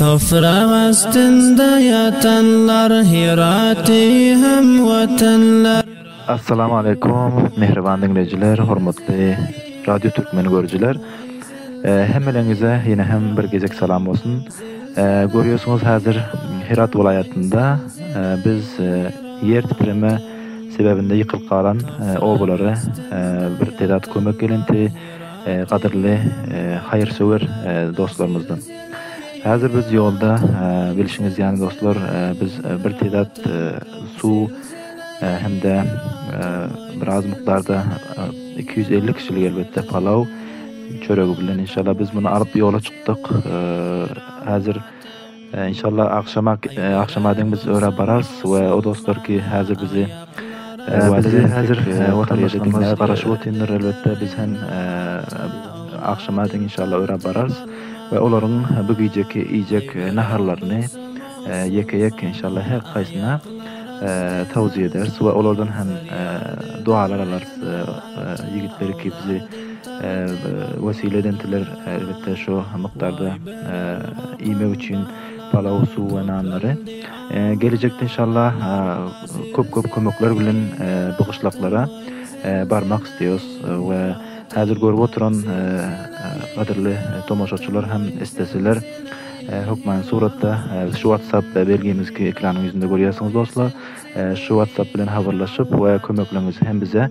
Toprak astynda ýatanlar Hiraty hem watanlar. Assalamu Aleýkum mähriban diňleýjiler, hormatly Radio Türkmeni görüjiler. Hemmeleriňize ýene hem bir gezek salam bolsun. Görýärsiňiz häzir Hirat welaýatynda biz ýer titreme sebäbinde ýykylyp galan obalara bir tezat kömek gelinti, gadyrly haýyrsöwer dostlarymyzdan. Häzir biz ýolda, bilşiňiz ýaly dostlar, biz bir tizat suw hem-de biraz mukdarda iki ýüz elli kişilik elbetde palaw çöregi bilen inşallah biz muny alyp ýola çykdyk. Häzir Inşallah agşama agşama deň biz öra bararys we o dostlar ki hazir bizi Bizi hazir watandaşlarymyz garaşyp otyndyr elbetde biz hem agşama deň inşallah öra bararys we olaryň bu gijeki iýjek naharlaryny ýeke ýek inşallah her haýsyna tawzia ederis we olardan hem dualar alarys ýigitleri ki bizi wesile edentirler elbetde şo mukdarda. iýmek üçin palaw, suw we nanlary. Gelejekde inşallah köp köp kömekler bilen bu gyşlaklara barmak isleýos we häzir görüp oturan gadyrly tomaşaçylar hem isleseler hökmany suratda şu whatsapp belgimizdki ekranyň ýüzünde görýärsiňiz dostlar şu whatsapp bilen habarlaşyp we kömeklerňizi hem bize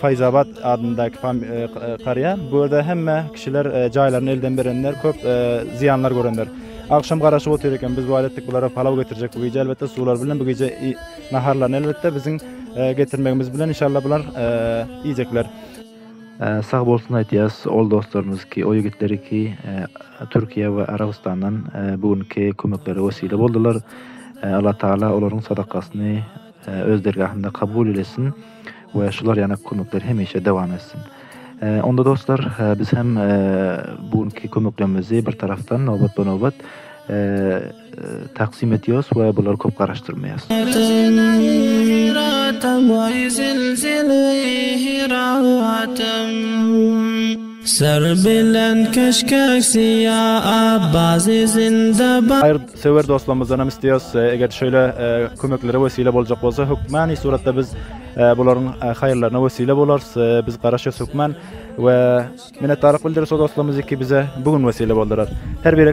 Faýzabad adyndaky karýa. Bu ýerde hemme kişiler jaýlaryny elden berenler, köp zyýanlar görenler. Agşam garaşyp otyr eken, biz wada etdik bulara palaw getirjek bu gije elbetde suwlar bilen bu gije naharlaryny elbetde biziň getirmegimiz bilen inşallah bular iýjekler. Sag bolsun aýtýas ol dostlarymyz ki o ýigitleri ki Türkiýe we Arabystandan bu günki kömeklere wesile boldylar. Allah Taala olaryň sadakasyny öz dergahynda kabul eylesin we şular ýaly kömekler hemişe dowam etsin. Onda dostlar, biz hem bu günki kömeklerimizi bir tarapdan nobatma-nobat taksym edýäris we bulary köp garaşdyrmaýarys. Söwer dostlarymyzdan hem isleýäs, eger şeýle kömeklere wesile boljak bolsa, hökmany suratda biz bularyň haýyrlaryna wesile bolarys. Biz garaşýas hökman we minnetdarlyk bildiris o dostlarymyzy ki bize bu gün wesile boldular. Her biri